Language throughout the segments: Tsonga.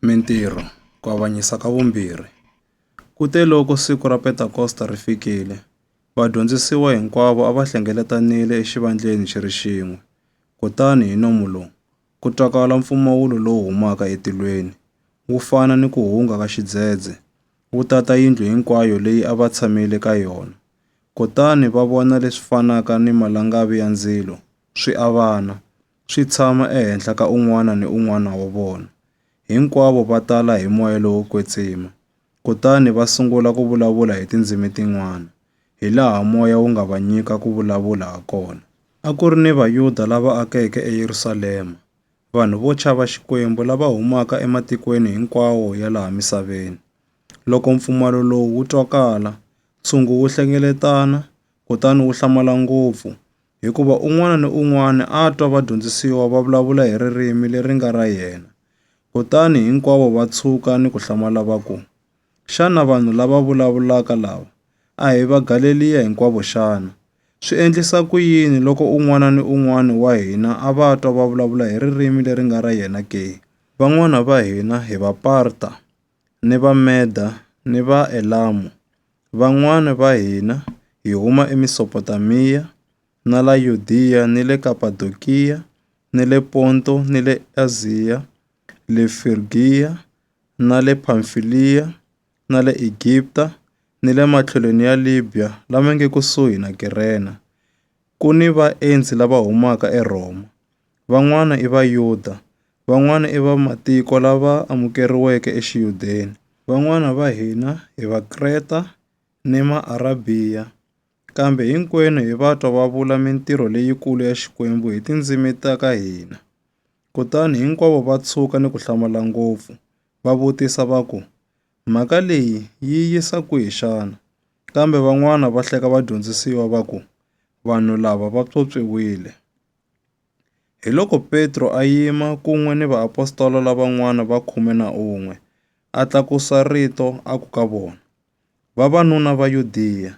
Mintirho, Ku Avanyisa ka Vumbirhi. Kuteloko siku ra Pentakosta ri fikile, vadyondzisiwa hinkwavo a va hlengeletanile exivandleni xi ri xin'we. Kutani hi nomu lowu ku twakala mpfumawulo lowu humaka etilweni, wu fana ni ku hunga ka xidzedze, wu tata yindlu hinkwayo leyi a va tshamile ka yona. Kutani va vona leswi fanaka ni malangavi ya ndzilo swi avana. swi tshama ehenhla ka un'wana ni un'wana wa vona. Hinkwavo va tala hi moya lowo kwetsima, kutani va sungula ku vulavula hi tindzimi tin'wana, hilaha moya wu nga va nyika ku vulavula hakona. A ku ri ni Vayuda lava akeke eYerusalema, vanhu vo chava Xikwembu lava humaka ematikweni hinkwawo ya laha misaveni. Loko mpfumalo lowu wu twakala, ntshungu wu hlengeletana kutani wu hlamala ngopfu, hikuva un'wana ni un'wana a a twa vadyondzisiwa va vulavula hi ririmi leri nga ra yena. Kutani hinkwavo va tshuka ni ku hlamala va ku, Xana vanhu lava vulavulaka lava a hi Vagaleliya hinkwavo xana? Swi endlisa ku yini loko un'wana ni un'wana wa hina a va twa va vulavula hi ririmi leri nga ra yena ke? Van'wana va hina hi Vaparta, ni Vameda ni Vaelamu, van'wana va hina hi huma eMesopotamiya na la Yudiya ni le Kapadokiya ni le Ponto ni le Aziya, le Frigiya na le Phamfiliya na le Egipta ni le matlhelweni ya Libya lama nge kusuhi na Kirene, ku ni vaendzi lava humaka eRhoma. van'wana i Vayuda, van'wana i vamatiko lava amukeriweke eXiyudeni, van'wana va hina hi Vakreta ni Maarabhiya, kambe hinkwenu hi va twa va vula mintirho leyikulu ya Xikwembu hi tindzimi ta ka hina. Kutani hinkwavo va tshuka ni ku hlamala ngopfu, va vutisa va ku, Mhaka leyi yi yisa kwihi xana? Kambe van'wana va hleka vadyondzisiwa va ku, Vanhu lava va pyopyiwile. Hiloko Petro a yima kun'we ni vaapostola lavan'wana va khume na un'we, a tlakusa rito a ku ka vona, Vavanuna va Yudiya,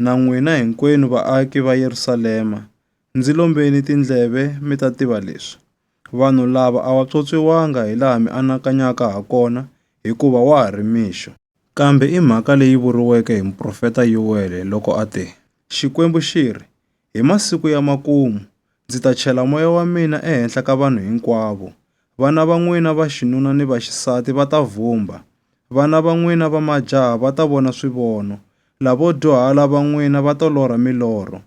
na n'wina hinkwenu vaaki va Yerusalema, ndzi lombeni tindleve mi ta tiva leswi. Vanhu lava a va pyopyiwanga hi laha mi anakanyaka ha kona, hikuva wa ha ri mixo. Kambe i mhaka leyi vuriweke hi muprofeta Yowele loko a te, Xikwembu xi ri, Hi masiku ya makumu ndzi ta chela moya wa mina ehenhla ka vanhu hinkwavo. Vana va n'wina va xinuna ni va xisati va ta vhumba, vana va n'wina va majaha va ta vona swivono, lavo dyuhala va n'wina va to lorha milorho.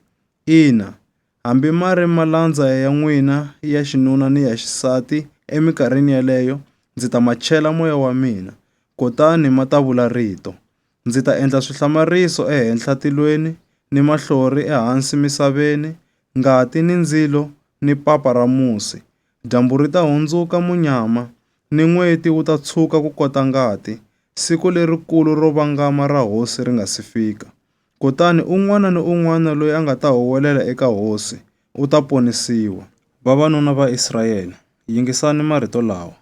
Ina, hambi ma ri malandza ya n'wina ya xinuna ni ya xisati eminkarhini yeleyo ndzi ta ma chela moya wa mina, kutani ma ta vula rito. Ndzi ta endla swihlamariso ehenhla tilweni, ni mahlori ehansi misaveni, ngati, ni ndzilo, ni papa ra musi. Dyambu ri ta hundzuka munyama, ni n'weti wu ta tshuka ku kota ngati, siku lerikulu ro vangama ra Hosi ri nga si fika. Kutani un'wana ni un'wana loyi a nga ta huwelela eka Hosi, u ta ponisiwa. Vavanuna va Israyele, yingisani marito lawa,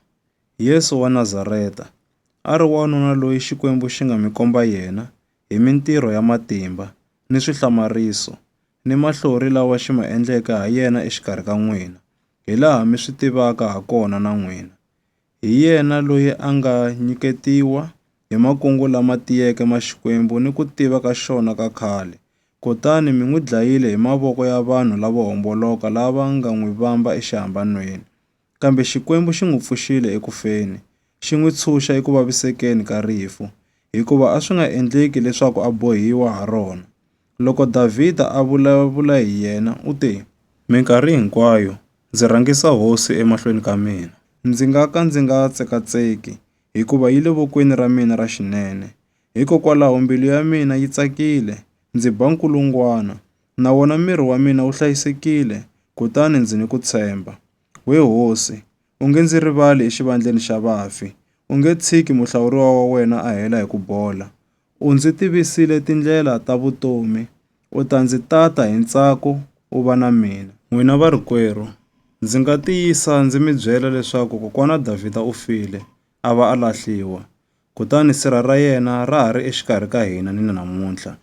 Yesu wa Nazareta, a ri wanuna loyi Xikwembu xi nga mi komba yena hi mintirho ya matimba, ni swihlamariso, ni mahlori lawa xi ma endleke ha yena exikarhi ka n'wina, hi laha mi swi tivaka ha kona na n'wina. Hi yena loyi a nga nyiketiwa hi makungu lama tiyeke ma Xikwembu ni ku tiva ka xona ka khale, kutani mi n'wi dlayile hi mavoko ya vanhu lavo homboloka lava nga n'wi vamba exihambanweni, Kambe Xikwembu xi n'wi pfuxile eku feni, xi n'wi tshunxa eku vavisekeni ka rifu, hikuva a swi nga endleki leswaku a bohiwa ha rona. Loko Davhida a vulavula hi yena, u te, Minkarhi hinkwayo ndzi rhangisa Hosi emahlweni ka mina. Ndzi nga ka ndzi nga tsekatseki, hikuva yi le vokweni ra mina ra xinene. Hikokwalaho mbilu ya mina yi tsakile, ndzi ba nkulungwana, na wona miri wa mina wu hlayisekile, kutani ndzi ni ku tshemba. We hosi, u nge ndzi rivali exivandleni xa vafi, u nge tshiki muhlawuriwa wa wena a hela hi ku bola. U ndzi tivisile tindlela ta vutomi, u ta ndzi tata hi ntsako u va na mina. N'wina varikwerhu, ndzi nga tiyisa ndzi mi byela leswaku kokwana Davhida u file, a va a lahliwa, kutani sirha ra yena ra ha ri exikarhi ka hina ni namuntlha.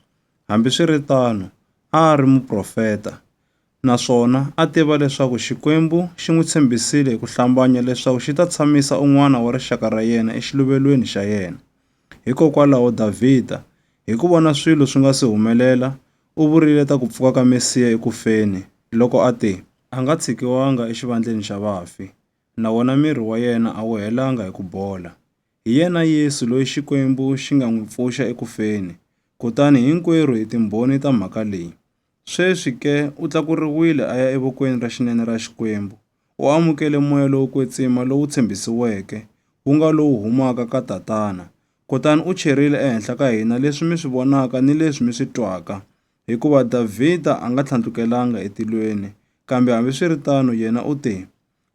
Hambiswiritano, a a ri muprofeta, naswona a tiva leswaku Xikwembu xi n'wi tshembisile hi ku hlambanya leswaku xi ta tshamisa un'wana wa rixaka ra yena exiluvelweni xa yena. Hikokwalaho Davhida, hi ku vona swilo swi nga si humelela, u vurile ta ku pfuka ka Mesiya eku feni loko a te, A nga tshikiwanga exivandleni xa vafi, na wona miri wa yena a wu helanga hi ku bola. Hi yena Yesu loyi Xikwembu xi nga n'wi pfuxa eku feni, kutani hinkwerhu hi timbhoni ta mhaka leyi. Sweswi ke u tlakuriwile a ya evokweni ra xinene ra Xikwembu, u amukele moya lowo kwetsima lowu tshembisiweke, wu nga lowu humaka ka Tatana, kutani u cherile ehenhla ka hina leswi mi swi vonaka ni leswi mi swi twaka. Hikuva Davhida a nga tlhandlukelanga etilweni, kambe hambiswiritano yena u te,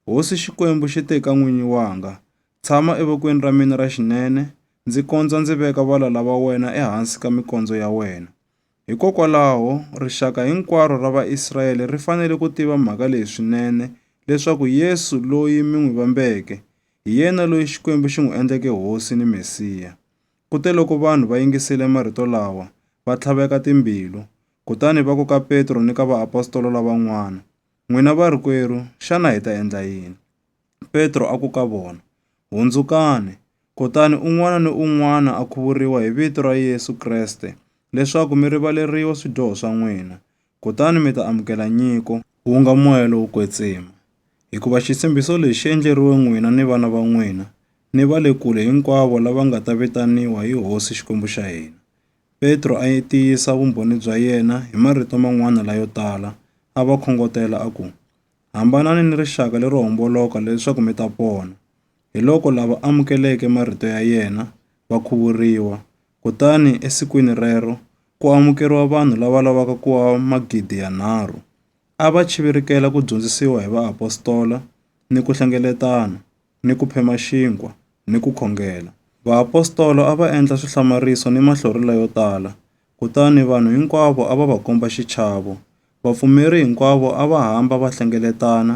Hosi Xikwembu xi te ka n'winyi wanga, Tshama evokweni ra mina ra xinene, ndzi kondza ndzi veka valala va wena ehansi ka mikondzo ya wena. Hikokwalaho, rixaka hinkwaro ra Vaisrayele ri fanele ku tiva mhaka leyi swinene, leswaku Yesu loyi mi n'wi vambeke, hi yena loyi Xikwembu xi n'wi endleke Hosi ni Mesiya. Kuteloko vanhu va yingisile marito lawa, va tlhaveka timbilu, kutani va ku ka Petro ni ka vaapostola lavan'wana, N'wina varikwerhu, xana hi ta endla yini? Petro a ku ka vona, Hundzukani, kutani un'wana ni un'wana a khuvuriwa hi vito ra Yesu Kreste leswaku mi rivaleriwa swidyoho swa n'wina, kutani mi ta amukela nyiko, ku nga moya lowo kwetsima, hikuva xitshembiso lexi xi endleriwe n'wina ni vana va n'wina ni va le kule hinkwavo lava nga ta vitaniwa hi Hosi Xikwembu xa hina. Petro a tiyisa vumbhoni bya yena hi marito man'wana layo tala, a va khongotela a ku, Hambanani ni rixaka lero homboloka leswaku mi ta pona. Hiloko lava amukeleke marito ya yena va khuvuriwa, kutani esikwini rero ku amukeriwa vanhu lava lavaka ku va magidi yanharhu. A va chivirikela ku dyondzisiwa hi vaapostola, ni ku hlengeletana, ni ku phema xinkwa, ni ku khongela. Vaapostola a va endla swihlamariso ni mahlorhela yo tala, Kutani vanhu hinkwavo a va va komba xichavo. Vapfumeri hinkwavo a va hamba va hlengeletana,